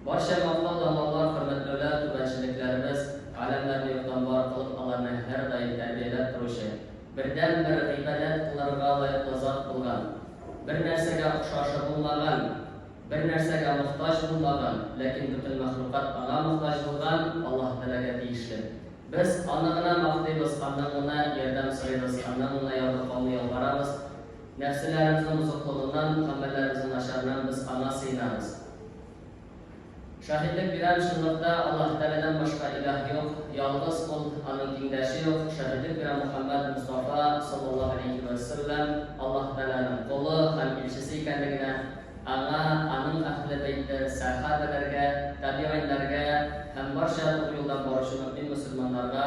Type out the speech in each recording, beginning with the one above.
Барча матур данлыклар, хөрмәтләүләр түбәнчелекләребез, галәмнәрне юктан бар кылып, аларны һәрдаим тәрбияләп торучы, бердәнбер гыйбадәт кылырга лаеклы зат булган, бернәрсәгә охшашы булмаган, бернәрсәгә мохтаҗ булмаган, ләкин бөтен мәхлукат Аңа мохтаҗ булган Аллаһ Тәгаләгә тиешле. Без Аны гына мактыйбыз, Аннан гына ярдәм сорыйбыз, Аннан гына ярдәм кабул ялварабыз. Нәфселәребезнең бозыклыгыннан, гамәлләребезнең начарыннан без Аңа сыенабыз. Шаһитлек бирәм, чынлыкта Аллаһ Тәгаләдән башка илаһ юк, ялгыз Ул, Аның тиңдәше юк. Шаһитлек бирәм, Мөхәммәд Мостафа, саллаллаһу галәйһи вә сәлләм, Аллаһ Тәгаләнең колы һәм илчесе икәнлегенә, Аңа, Аның Әһле бәйте, сәхә бәләргә, табигыйньнәргә һәм барча тугры юлдан баручы мөэмин мөселманнарга,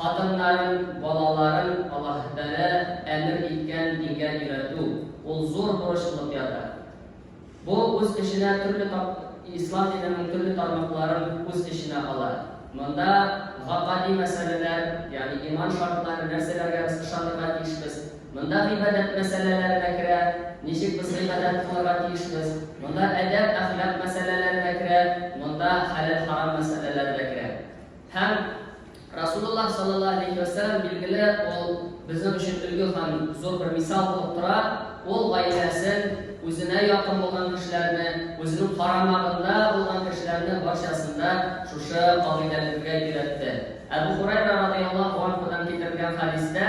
Хатыннарын, балаларын Аллаһ Тәгалә әмер иткән дингә өйрәтү, ул зур бурыч булып ята. Бу үз эченә төрле тап Ислам диненең төрле тармакларын үз эченә ала. Монда гакади мәсьәләләр, ягъни иман шартлары, нәрсәләргә без ышанырга тиешбез. Монда гыйбадәт мәсьәләләре дә керә, ничек без гыйбадәт кылырга тиешбез. Монда әдәп, әхлак мәсьәләләре дә керә, монда хәләл-харам мәсьәләләре дә керә. Һәм Расулуллах саллаллаһу алейхи ва сәлләм билгеле ул безнең өчен өлге һәм зур бер мисал булып тора. Ул гаиләсен, үзенә якын булган кешеләрне, үзенең карамагында булган кешеләрне барчасында шушы кагыйдәләргә өйрәтте. Әбу Хурайра радияллаһу анһудан китерелгән хәдистә,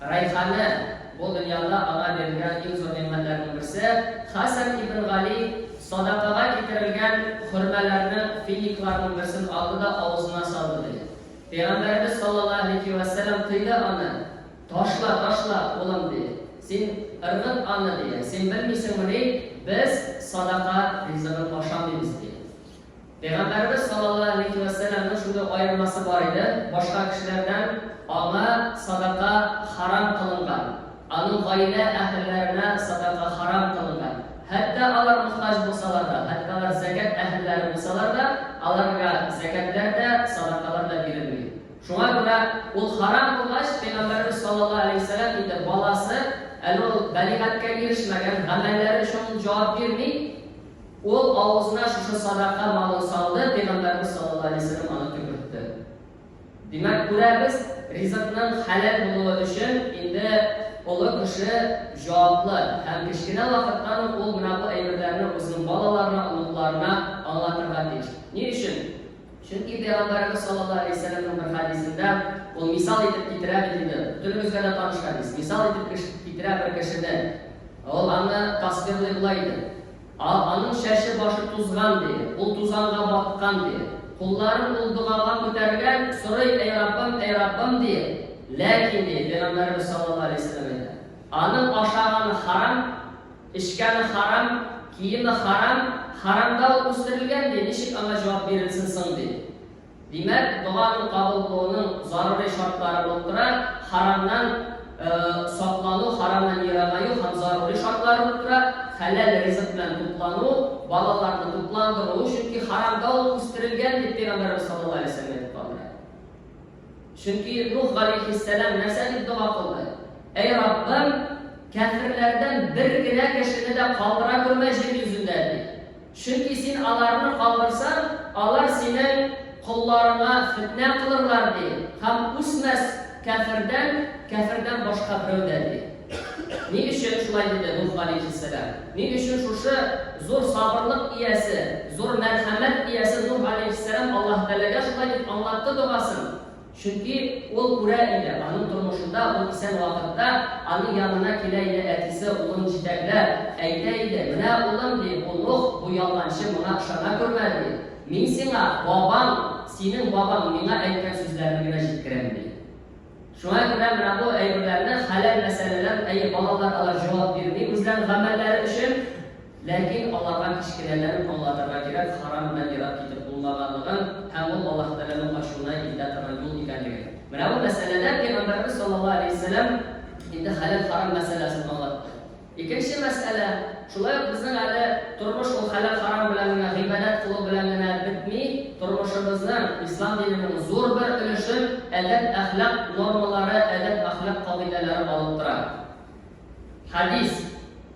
Рәйхана, бу дөньяда аңа бирелгән иң зур нигъмәтләрнең берсе. Хәсән ибн Гали садакага китерелгән хөрмәләрнең финикларның берсен алды да авызына салды, ди. Пәйгамбәребез саллаллаһу галәйһи вә сәлам тыйды аны, Ташла, ташла, улым, ди. Син ыргыт аны, ди. Син белмисеңмени, без садака ризыгын ашамыйбыз, ди. Пәйгамбәребез саллаллаһу алейһи вә сәлләмнең шундый аермасы бар иде, башка кешеләрдән аңа садака харам кылынган, аның гаилә әһелләренә садака харам кылынган. Хәтта алар мохтаҗ булсалар да, хәтта алар зәкят әһелләре булсалар да, аларга зәкятләр дә, садакалар да бирелми. Шуңа күрә ул харам булгач, пәйгамбәребез саллаллаһу алейһи вә сәлләм инде баласы әле ул бәлигатькә ирешмәгән, гамәлләре өчен ул җавап бирми, Ул авызына шушы садака малын салды, Пәйгамбәрбез саллаллаһу галәйһи ва сәлләм аны төкертте. Димәк, күрәбез, ризыкның хәләл булуы өчен инде олы кеше җаваплы һәм кечкенә вакыттан ук ул менә бу әйберләрне үзенең балаларына, оныкларына аңлатырга тиеш. Ни өчен? Чөнки Пәйгамбәрбез саллаллаһу галәйһи ва сәлләмнең бер хәдисендә ул мисал итеп китерә бит инде, бөтенебезгә дә таныш хәдис, мисал итеп китерә бер кешене, ул аны тасвирлый болай дип, А, аның чәче-башы тузган, ди, ул тузанга баткан, ди. Кулларын ул догага күтәргән, сорый, Әй Раббым, әй Раббым, ди. Ләкин, ди, Пәйгамбәребез саллаллаһу галәйһи вәсәлләм әйтә, Аның ашаганы харам, эчкәне харам, киеме харам, харамда ул үстерелгән, ди, ничек аңа җавап бирелсен соң, ди. Димәк, доганың кабул булуының зарури шартлары булып тора, харамнан саклану, харамнан ерагаю һәм зарури шартлары булып тора, хәләл ризык белән туклану, балаларны тукландыру, чөнки харамда ул үстерелгән, дип Пәйгамбәребез саллаллаһу алейһи ва сәлләм әйтеп калдыра. Чөнки Нух галәйһиссәлам нәрсә дип дога кылды? Әй Раббым, кәферләрдән бер генә кешене дә калдыра күрмә җир йөзендә, ди. Чөнки син аларны калдырсаң, алар синең колларыңа фетнә кылырлар, ди, һәм үсмәс кяфердән кяфердән башка берәү дә, ди. Ни өчен шулай диде Нух галәйһиссәлам? Ни өчен шушы зур сабырлык иясе, зур мәрхәмәт иясе Нух галәйһиссәлам Аллаһы Тәгаләгә шулай дип аңлатты догасын? Чөнки ул күрә иде, аның тормышында ул исән вакытта аның янына килә иде әтисе, улын җитәкләп, әйтә иде, Менә, улым, ди, бу лох, бу ялганчы моңа ышана күрмә, ди. Мин сиңа, бабаң, синең бабаң миңа әйткән сүзләрне генә җиткерәм, ди. Шуңа күрә менә бу әйберләрне, хәләл мәсьәләләр, әйе, балалар алар җавап бирми үзләренең гамәлләре өчен. Ләкин аларга кечкенәләрен аңлатырга кирәк, харам белән ерак китеп булмаганлыгын һәм ул Аллаһ Тәгаләнең ачуына илтә торган юл икәнлеген. Менә бу мәсьәләдә Пәйгамбәребез саллаллаһу алейһи вә сәлләм инде хәләл-харам мәсьәләсен аңлатты. Икенче мәсьәлә, шулай ук безнең әле тормыш ул хәләл-харам белән генә, гыйбадәт кылу белән генә бетми, тормышыбызның, Ислам диненең зур бер өлешен әдәп-әхлак нормалары, әдәп-әхлак кагыйдәләре алып тора. Хәдис.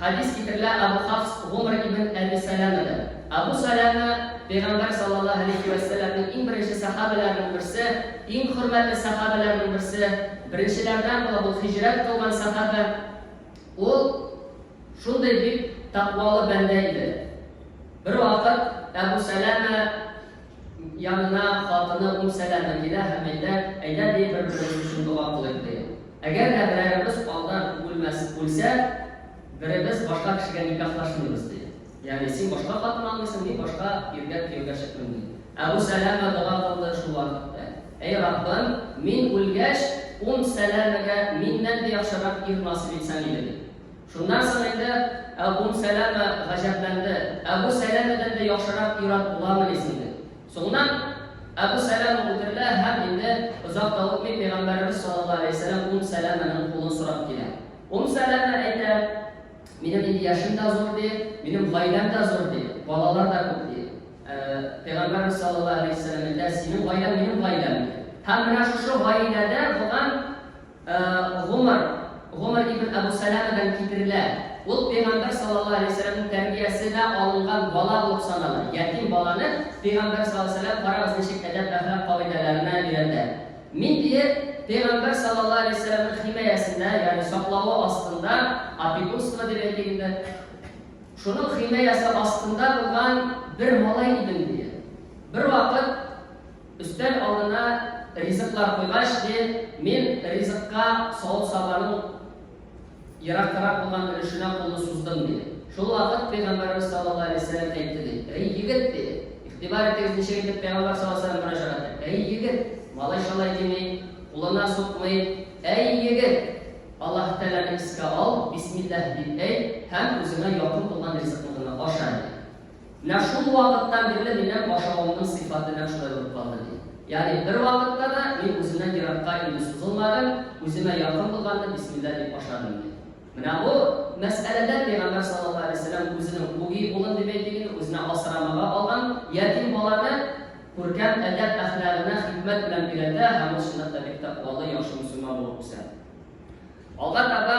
Хәдис китерелә Абу Хафс Гомр ибн Әби Сәләмәдән. Абу Сәләмә, Пәйгамбәр саллаллаһу алейһи вә сәлләмнең иң беренче сәхабәләренең берсе, иң хөрмәтле сәхабәләренең берсе, беренчеләрдән була бу һиҗрәт кылган сәхабә. Ул шундый бик тәкъвалы бәндә иде. Бервакыт Әбү Сәләмә. Янына хатыны Ум Сәләмә килә һәм әйтә, Әйдә, ди, бер-беребез өчен дога кылыйк, ди. Әгәр дә берәребез алда үлмәс, үлсә, беребез башка кешегә никахлашмыйбыз, ди. Ягъни, син башка хатын алмыйсың, мин башка иргә кияүгә чыкмыйм, ди. Әбү Сәләмә дога кылды шул вакытта, Әй Раббым, мин үлгәч, Ум Сәләмәгә миннән дә яхшырак ир насыйп итсәң иде, ди. Шуннан соң инде Әбум Сәләмә гаҗәпләнде, Әбу Сәләмәдән дә яхшырак ир-ат буламыни соң дип. Соңыннан Әбу Сәләмә үтерелә һәм инде озак та үтми Пәйгамбәребез саллаллаһу галәйһи ва сәлләм Ум Сәләмәнең кулын сорап килә. Ум Сәләмә әйтә, Минем инде яшем дә зур, ди, минем гаиләм дә зур, ди, балалар да күп, ди. Ә Пәйгамбәребез саллаллаһу галәйһи ва сәлләм әйтә, Синең гаиләң минем гаиләм, ди. Һәм менә шушы гаиләдә булган Гомар, Гомар ибн Әбү Сәләмәдән китерелә, ул Пәйгамбәр саллаллаһу галәйһи ва сәлләмнең тәрбиясе дә алынган бала булып санала. Ятим баланы Пәйгамбәр саллаллаһу галәйһи ва сәлләм, карагыз, ничек әдәп-әхлак кагыйдәләренә өйрәнде. Мин, дие, Пәйгамбәр саллаллаһу галәйһи ва сәлләмнең химаясендә, ягъни саклавы астында, опекунство дип әйтик инде, шуның химаясе астында булган бер малай идем, дие. Бервакыт, Өстәл алдына ризыклар куйгач, ди, мин ризыкка савыт-сабаның ерактарак булган өлешенә кулны суздым, ди. Шул вакыт Пәйгамбәребез саллаллаһу галәйһи ва сәлләм әйтте, ди, Әй егет, ди, игътибар итегез, ничек итеп Пәйгамбәр саллаллаһу галәйһи ва сәлләм мөрәҗәгать итә, Әй егет, малай шалай дими, кулына сукмый, Әй егет, Аллаһы Тәгаләне искә ал, бисмиллаһ дип әйт һәм үзеңә якын булган ризыкны гына аша, ди. Менә шул вакыттан бирле минем ашавымның сыйфаты нәкъ шулай булып калды, ди. Ягъни бервакытта да мин үземнән еракка инде сузылмадым, үземә якын булганны бисмилла дип ашадым, ди. Менә бу мәсьәләдә пәйгамбәр саллаллаһу галәйһи ва сәлләм үзенең үги улын, дип әйтик инде, үзенә асрамага алган ятим баланы күркәм әдәп-әхлагына хикмәт белән өйрәтә һәм ул чынлап та бик тәкъвалы, яхшы мөселман булып үсә. Алга таба.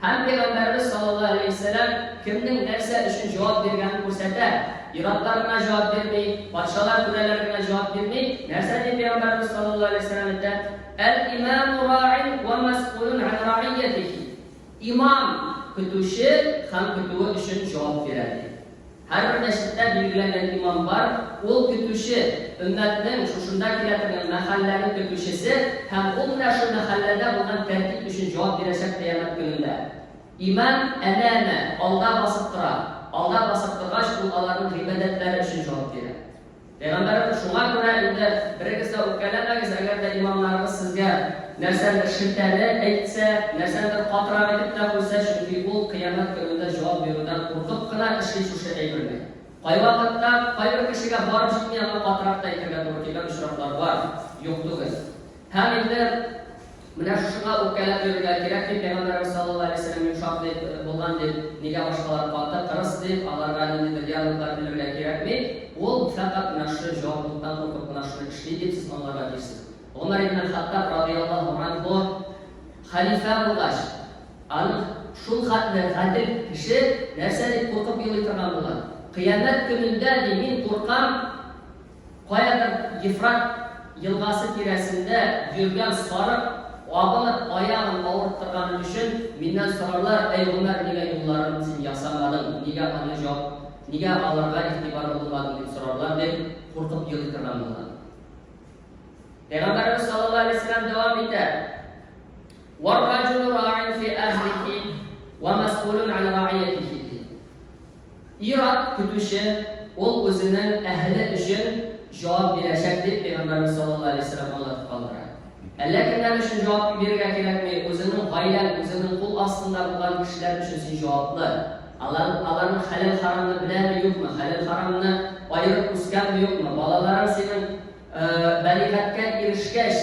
Һәм Пәйгамбәребез саллаллаһу галәйһи вә сәлләм кемнең нәрсә өчен җавап биргәнен күрсәтә. Ир-атлар гына җавап бирми, патшалар, түрәләр генә җавап бирми. Нәрсә ди Пәйгамбәребез саллаллаһу галәйһи вә сәлләм әйтә? Әл-имаму раин вә мәсъулун ан раиятихи. Имам, көтүче һәм көтүе өчен җавап бирә, ди. Һәрбер мәчеттә билгеләнгән имам бар, ул көтүче, өммәтнең, шушында килә торган мәхәлләнең көтүчесе һәм ул менә шул мәхәлләдә булган тәртип өчен җавап бирәчәк кыямәт көнендә. Имам, әнә-әнә, алда басып тора. Алда басып торгач, ул аларның гыйбадәтләре өчен җавап бирә. Пәйгамбәребез, Шуңа күрә инде берегез дә үпкәләмәгез, әгәр дә имамнарыгыз сезгә нәрсәдер шелтәле әйтсә, нәрсәдер катырак итеп тә куйса, чөнки ул Кыямәт көнендә җавап бирүдән куркып кына эшли шушы әйберне. Кайвакытта кайбер кешегә барып җитми, аңа катырак та әйтергә туры килгән очраклар бар, юк түгел. Һәм инде Менә шушыңа үпкәләп йөрергә кирәк ди Пәйгамбәребез саллаллаһу галәйһи вәсәлләм йомшак дип, булган дип, нигә башкалар каты, кырыс дип, аларга ниндидер диалоглар килергә кирәкми, ул фәкать менә шушы җаваплылыктан куркып кына шуны эшли дип сез аңларга тиешсез. Гомәр ибн әл-Хаттаб радыйяллаһу анһу хәлифә булгач, аны шул хәтле гадел кеше нәрсә дип куркып елый торган була? Кыямәт көнендә, ди, мин куркам, Каядыр Ефрат елгасы тирәсендә йөргән сарык абынып аягын авырттырганы өчен миннән сорарлар, Әй, Гомәр, нигә юлларын син ясамадың, нигә аны җап, нигә аларга игътибарлы булмадың дип сорарлар, дип куркып елый торган булган. Пәйгамбәребез саллаллаһу алейһи ва сәлләм дәвам итә, Вар-раҗулу раин фи әһлихи ва мәсъулун ан раиятихи. Ир-ат көтүче, ул үзенең әһеле өчен җавап бирәчәк, дип Пәйгамбәрбез саллаллаһу алейһи ва сәлләм аңлатып калдыра. Әллә кемнәр өчен җавап бирергә кирәкми, үзеңнең гаиләң, үзеңнең кул астыңда булган кешеләр өчен син җаваплы. Алар, аларның хәләл-харамны беләме, юкмы, хәләл-харамны аерып үскәнме, юкмы, балаларың синең, ә, бәлигатькә ирешкәч,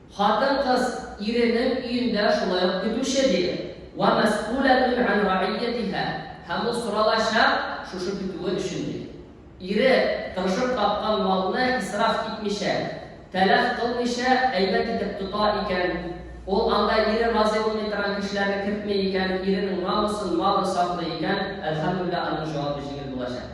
Хатын-кыз иренең өендә шулай ук көтүче, диде. Вә мәсьүләтүн ән рәгыйятиһә, һәм ул соралачак шушы көтүе өчен, диде. Ире, тырышып тапкан малны исраф итмичә, тәләф кылмыйча, әйбәт итеп тота икән, ул анда ире разый булмый торган кешеләрне кертми икән, иренең намусын, малын саклый икән, әлхәмдүлилләһ, аның җавабы җиңел булачак.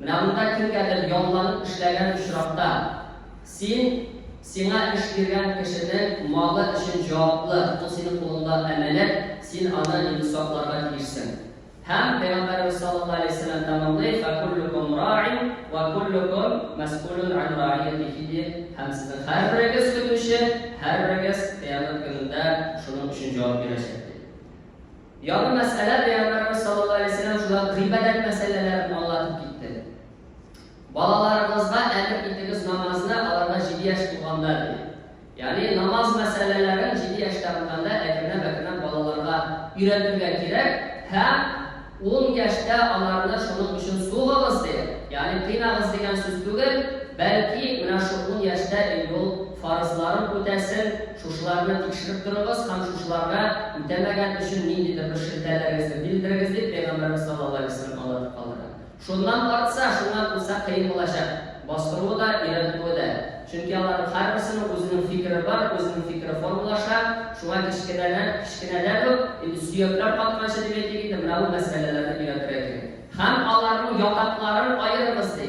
Менә монда кемгәдер ялланып эшләгән очракта, син сиңа эш биргән кешенең малы өчен җаваплы, ул синең кулыңда әманәт, син аны инде сакларга тиешсең. Һәм Пәйгамбәребез саллаллаһу галәйһи ва сәлләм тәмамлый, Фәкуллүкүм раин вә куллүкүм мәсъулун ан раиятихи диеп, һәм сезнең һәрберегез көтүче, һәрберегез Кыямәт көнендә шуның өчен җавап бирәчәк дип. Яңа мәсьәлә Пәйгамбәребез саллаллаһу галәйһи ва сәлләм шулай ук гыйбадәт мәсьәләләрен аңлатып китте. Балаларыгызга әмер итегез намазны аларга җиде яшь тулганда, диде. Ягъни намаз мәсьәләләрен җиде яшьтә булганда әкренләп-әкренләп балаларга өйрәтергә кирәк һәм ун яшьтә аларны шуның өчен сугыгыз, ди, ягъни кыйнагыз дигән сүз түгел, бәлки менә шул ун яшьтә инде ул фарызларын үтәсен, Шушыларны тикшереп торыгыз һәм шушыларга үтәмәгән өчен ниндидер бер шелтәләрегезне билдерегез, дип Пәйгамбәребез саллаллаһу аләйһи вәсәлләм аңлатып калдыра. Шуннан артса, шуннан куса кыен булачак, бастыруы да, өйрәтүе дә. Чөнки аларның һәрберсенең үзенең фикере бар, үзенең фикере формалаша, шуңа кечкенәдән, кечкенәдән үк, инде сөякләр катканчы дип әйтик инде, менә бу мәсьәләләрне өйрәтергә кирәк. Һәм аларның ятакларын аерыгыз, ди.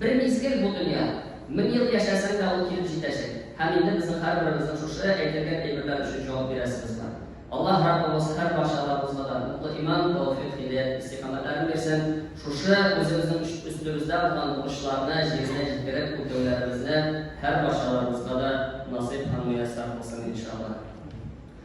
Бер мизгел бу дөнья. Мең ел яшәсәң дә ул килеп җитәчәк. Һәм инде безнең һәрберебезнең шушы әйтелгән әйберләр өчен җавап бирәсебез бар. Аллаһ Раббыбыз һәр барчаларыбызга да утлы иман, тәүфыйк, һидәят, истикамәтләрен бирсен, шушы үзебезнең өстебездә булган бурычларны җиренә җиткереп үтәүләребезне һәр барчаларыбызга да насыйп һәм мөяссәр кылсын, иншаллаһ.